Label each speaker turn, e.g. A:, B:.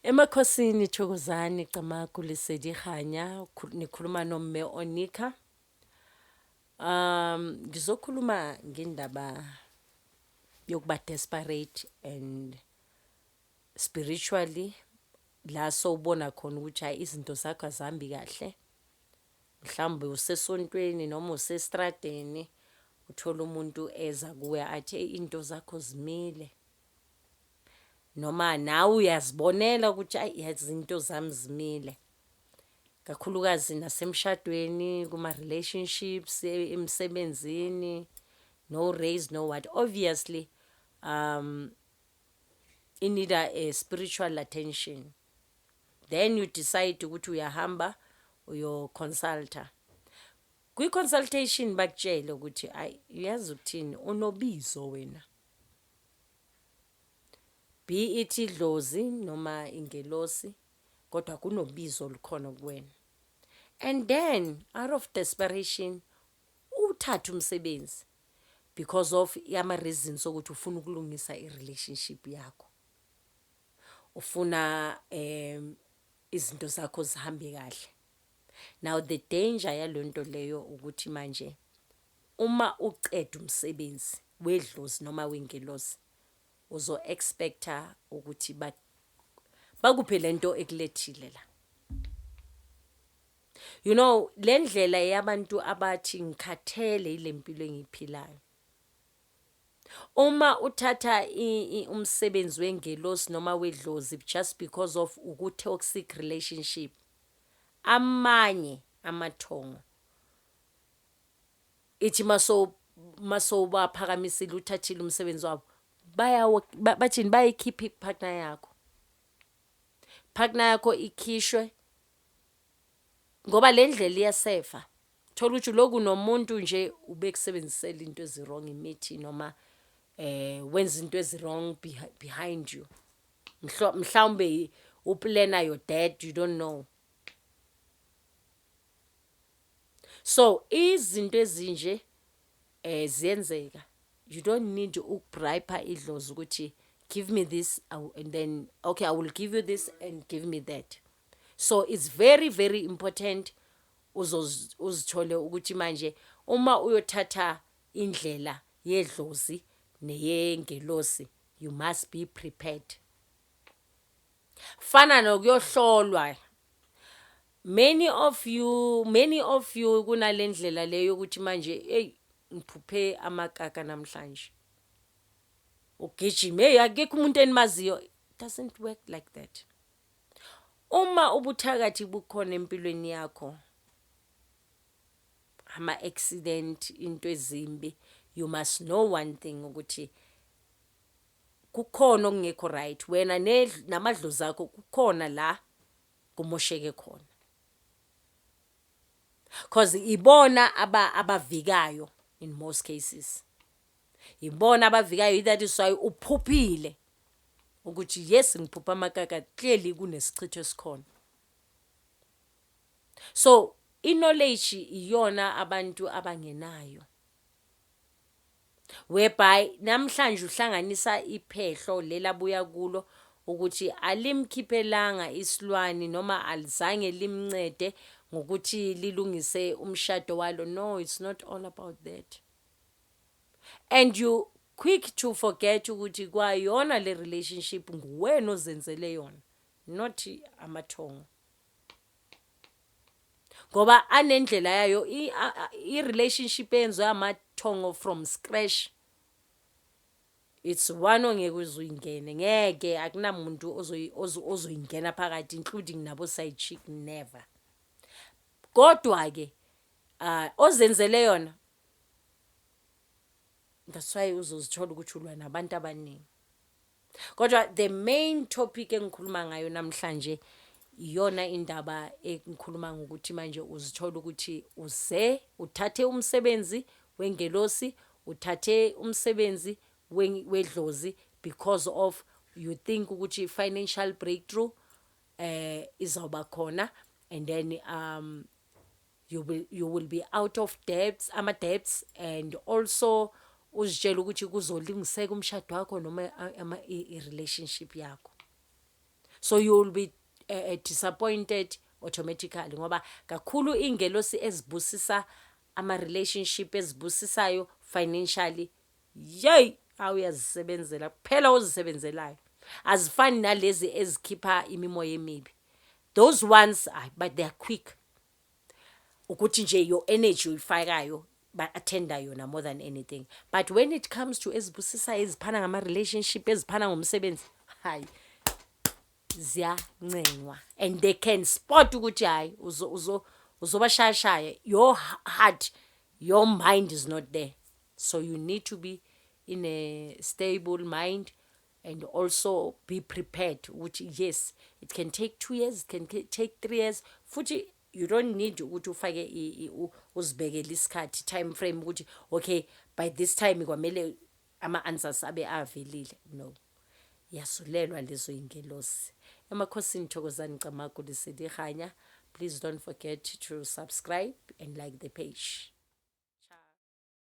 A: Emakhosini Thokozani Camagu Lesedi Kganya nikhuluma noMme Onika. Um ngizokhuluma ngendaba yokuba desperate and spiritually la sowubona khona ukuthi hayi izinto zakho azihambi kahle. Mhlawumbe usesontweni noma usestradeni uthole umuntu eza kuwe athi eyi into zakho zimile noma nawe uyazibonela ukuthi ayi yazi into zami zimile kakhulukazi nasemshadweni kuma-relationships e-, emsebenzini no raise no what obviously um inida a spiritual attention then you decide ukuthi uyahamba uyo consulta kwi consultation bakutshele ukuthi ayi uyazi ukuthini unobizo wena be it idlozi noma ingelosi kodwa kunobizo olukhona kuwena and then out of desperation uthatha umsebenzi because of ama reasons okuthi ufuna ukulungisa i relationship yakho ufuna izinto zakho zihambe kahle. Now the danger yalonto leyo ukuthi manje uma uqeda umsebenzi wedlozi noma wengelosi uzo expecta ukuthi ba bakuphe lento ekulethile la. You know lendlela yabantu abathi ngikhathele yilempilo engiyiphilayo. Uma uthatha umsebenzi wengelosi noma wedlozi just because of uku toxic relationship amanye amathongo ithi maso masobaphakamisile uthathile umsebenzi wabo bayawo bathini bayikhipha ipartner yakho partner yakho ikhishwe ngoba le ndlela iyasefa thola ukuthi uloku nomuntu nje ubekusebenzisela into ezi-wrong imithi noma eh wenza into ezi-wrong behind you mhlawumbe uplana your dad you don't know so izinto ezinje eh ziyenzeka you don't need ukubribe idlozi ukuthi give me this and then okay i will give you this and give me that so it's very very important uzithole ukuthi manje uma uyothatha indlela yedlozi neyengelosi you must be prepared fana nokuyohlolwa many of you many of you kunalendlela leyo ukuthi manje hey ngiphuphe amakaka namhlanje ugijima hey akekho umuntu enimaziyo doesn't work like that Uma ubuthakathi bukhona empilweni yakho ama accident into ezimbi you must know one thing ukuthi kukhona okungekho right wena namadlozi akho kukhona la kumosheke khona cause ibona abavikayo in most cases Yibona abavikayo that is why uphuphile ukuthi yes ngiphupha amakaka clearly kunesichitho esikhona so i-knowledge iyona abantu abangenayo whereby namhlanje uhlanganisa iphehlo lela buya kulo ukuthi alimkhiphelanga isilwane noma alizange limncede ngokuthi lilungise umshado walo no it's not all about that and you quick to forget ukuthi kwayona le relationship nguwena ozenzele yona not amathongo ngoba anendlela yayo i-relationship eyenziwe amathongo from scratch it's one ongeke uzuyingene ngeke akunamuntu ozoyingena phakathi including nabo side chick never kodwa-ke um ozenzele yona that's why uzozithola ukuthi ulwa nabantu abaningi kodwa the main topic engikhuluma ngayo namhlanje iyona indaba engikhuluma ngokuthi manje uzithola ukuthi uze uthathe umsebenzi wengelosi uthathe umsebenzi wedlozi because of you think ukuthi financial breakthrough eh izawuba khona and then um you will, you will be out of debts ama-debts and also uzitshela ukuthi kuzolungiseka umshado wakho noma i-relationship yakho so you will be uh, disappointed automatically ngoba kakhulu iy'ngelosi ezibusisa ama-relationship ezibusisayo financially yeyi awu uyazisebenzela kuphela ozisebenzelayo azifani nalezi ezikhipha imimoya emibi those ones ay but they are quick ukuthi nje your energy uyifakayo ba-athenda yona more than anything but when it comes to ezibusisayo eziphana ngama-relationship eziphana ngomsebenzi hayi ziyancenywa and they can spot ukuthi hhayi uzobashayashaya your heart your mind is not there so you need to be in a stable mind and also be prepared ukuthi yes it can take two years it can take three years futhi you don't need ukuthi ufake uzibekele isikhathi time frame ukuthi okay by this time kwamele ama-answers abe avelile no yasulelwa lezo yingelosi emakhosini thokozani camagu liselihanya please don't forget to subscribe and like the page